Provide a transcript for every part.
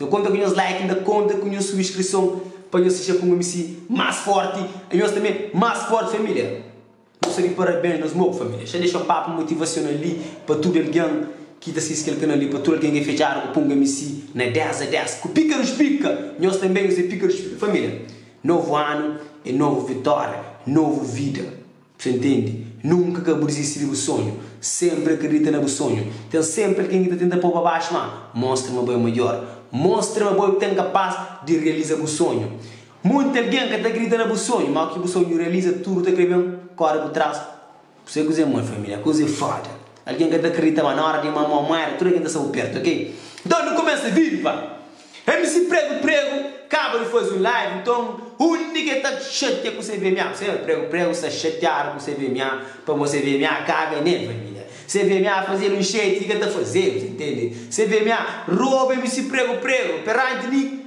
Nho konta ku nhos like inda konta ku nhos subskrison pa nhos fitxa kuma misi mas forti e nhos tanbe mas forti familia nhos ta di parabens nos mou familia xa dexa un papu motivasional li pa tudu algen ki ta sisti kel kanal li pa tudu algen ki fitxadu ku punga misi na 10 a 10 ku pika dus pika nhos tanbe nhos e pika dus pika familia novu anu e novu vitoria novu vida. Sta intendi? Nunka ka bu dizisti di bu sonhu. Senpri akredita na bu sonhu. Ten senpri algen ki ta tenta pô-u pa baxu ma, mostra ma bo é midjór. Mostra ma bo é ku ten kapas di realiza bu sonhu. Munti algen ka ta akredita na bu sonhu, ma óki bu sonhu realiza, tudu ta krê ben kóre bu tras. Bu sai kuzê, mon família? Kuze foda! Algen ka ta kridita ma na óra di ma mó muera tudu algen ta staba pertu ok. Nton nu kumesa vive pa MC Prego Prego kaba di faze un live nton undi ki el ta xatia ku se VMA bu sabe Prego Prego sta xatiadu ku se VMA pamó se VMA kabe ne família se VMA faze el un xetu ki ka ta fazedu ta ntende se VMA roba MC Prego Prego perante mi.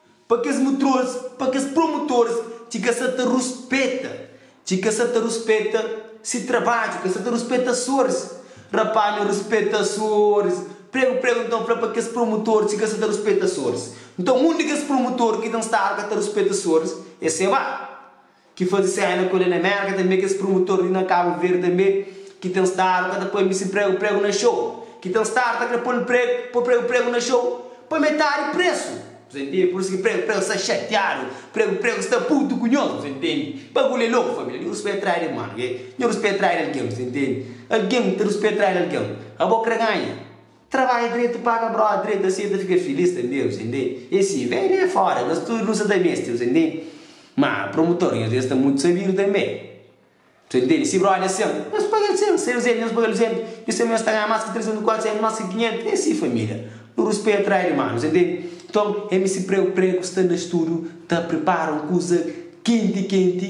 Pa kes mutrols, pa kes promutors ki ka sa ta ruspeta, ki ka sa ta ruspeta si trabadju, ka sa ta ruspeta Açores. Rapá, nho ruspeta Açores. Pregu, pregu, nton fla pa kes promutors ki ka sa ta ruspeta Açores. Nton un di kes promutors ki ta nstaba ka ta ruspeta Açores, e seba. ki faze série na kolónia Amérika tanbê kes promutor li na Kabu Verdi tanbê ki ten stadu ka ta poi mi si pregu pregu na xou ki ten stadu ta kre pol pregu pol pregu pregu na xou pa metadi presu bu ta ntende pur isu ki pregu pregu sta xatiadu pregu pregu sta putu ku nhos bu ta ntende bagulhu é loku família nhu ruspeta trai di ermanu ke nhu ruspeta trai di algen bu ta ntende algen ta ruspeta trai di algen abo kre ganha. Trabadja dretu e paga brota dretu asi el ta fika filis tanbe bu tende e si ve li e fora nos tudu nu sa ta mesti bu tende ma promutor nhos li sta mutu sabidu tanbe bu ta ntende si brota é 100 nhos paga el 100 si el 200 nhos paga el 200 nhos tanbe nhos ta ganha mas ki 300 400 mas ki 500 e si familia nu ruspeta trai di manu bu ta ntende nton el mesti pregu pregu sta na studu ta pripara un kuza kenti kenti.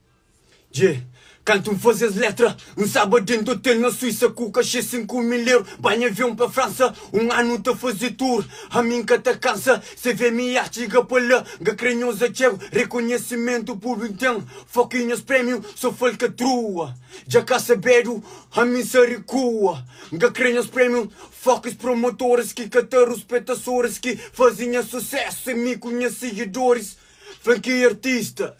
Dje, kantu N faze es letra Un sába dentu otel na Suisa Ku kaxê sinku mil eru Panha avion pa Fransa Un anu N ta faze tur Ami N ka ta kansa Se ve mi art txiga pa la N ka kre nhos atxégu Rekonhesimentu públiku N ten foki nhos prémiu So falkatrua Dja ka sabedu Ami N sa rikua N ka kre nhos prémiu Fokis promotoris Ki ka ta ruspeta soris Ki faze nha susésu Se mi ku nha sigidoris Fla-m ki artista.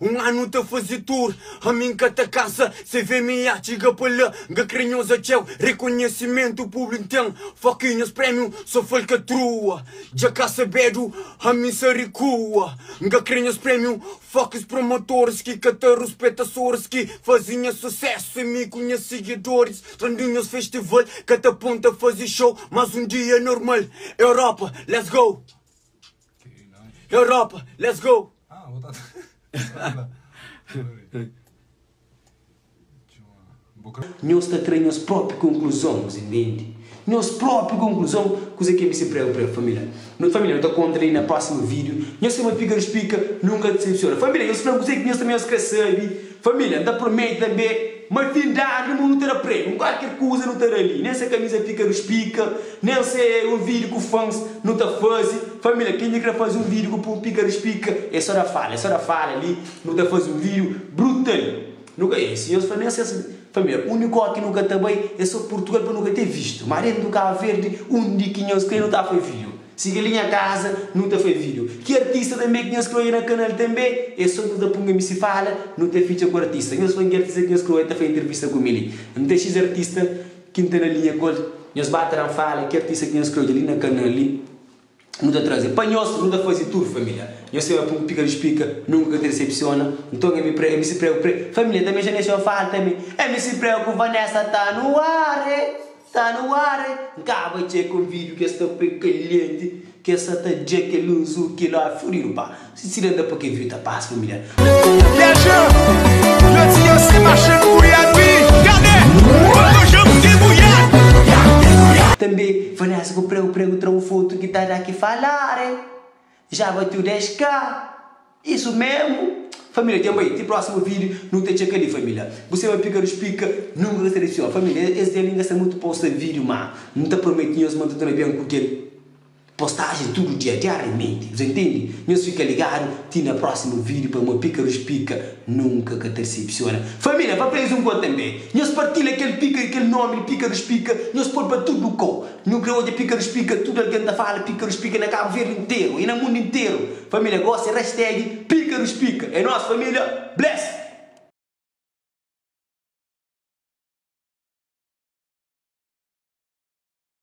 Un anu ta faze tur ami n ka ta kansa Se vê mi nha txiga pa la N ka kre nhoza txeu Rekonhesimentu públi n ten Foki nhos prémiu so falkatrua Dja ka sabedu ami n sa rikua N ka kre nhos prémiu Fokis promotoris ki ka ta ruspeta Soris ki faze nha susésu É mi ku nha sigidoris Trandu nhos festival Ka ta pon ta faze xou Más un dia normal Europa Let's go! Europa, let's go! Ah, vou tá. Nhos ta tra nhos própri konkluzon, nhos intendi? Nhos própri konkluzon, kuze ke meste prega pa el, família. No família, no ta kontra li na prósimu vídiu. Nhos sema pika, no spika, nunka disepsiona. Família, nhos fla-m kuze ki nhos ta meste kre sabe. Família, N ta promete tanbê ma fin di anu nu ta da prémiu. N kualker kuza nu ta da li, nen se kamiza fika ruspika, nen se un vídiu ku fans nu ta faze. Família, ken di kre faze un vídiu ku pun pika ruspika, e so da fala, e so da fala li, nu ta faze un vídiu brutal. Nu ka, e si nhos fla, nen se es. Família, únikó ki nu ka ta bai e so Purtugal pa nu ka te vistu. Má dentu Kabu Verdi, undi ki nhos kre nu ta fai vídiu. Si kel li nha kaza nu ta fai video. Ki artista tanbe ki nhos kroi na kanal tanbe? E so nhos da punga mi si fala nu ta fitxa ku artista. Nhos fla-m ki artista ki nhos kroi ta fai intervista ku mi li. N ten xis artista ki N ta na linha ku el. Nhos ba tra-m fala ki artista ki nhos kroi li na kanal li nu ta traze. Pa nhos nu ta faze tudu família. Nhos seba pum pika di spika nunka ka ta disepsiona. Nton MC Prego, MC Prego, Prego. Família tanbe xa nexon fala tanbe. MC Prego ku Vanessa ta no ar e. Sta no ar e N kaba txê ku un vídiu ki es ta poi kalienti ki es sa ta dja kel lus u ki lói furidu pa si si da n da pa kel vídiu ta pasa familiar. Tanbe vanessa ku pregu pregu tra un fotu ki ta da ki falar e ja bateu 10k. Isu mesmu família djen bai ti prósimu vídeo nu ta txeka li família bu seba pika nu splika nunka ka sali txon família es dia li n gasta mutu posta vídeo má n ta prometi nhos ma n ta torna ben ku kel postájen tudu dia diáriamenti bu ta ntende nhos fika ligadu ti na prósimu vídeo pamó pika nu splika nunka ka ta disipsiona família pa pa es un gol tanbe nhos partilha kel pika kel nómi di pika nu splika nhos poi pa tudu lokau. Nu krê odja Píkarus Pika, tudu algen ta fala Píkarus Pika na Kabu Verdi interu y na mundu interu Família gosi Rastag Píkarus Pika é nos família Blessed!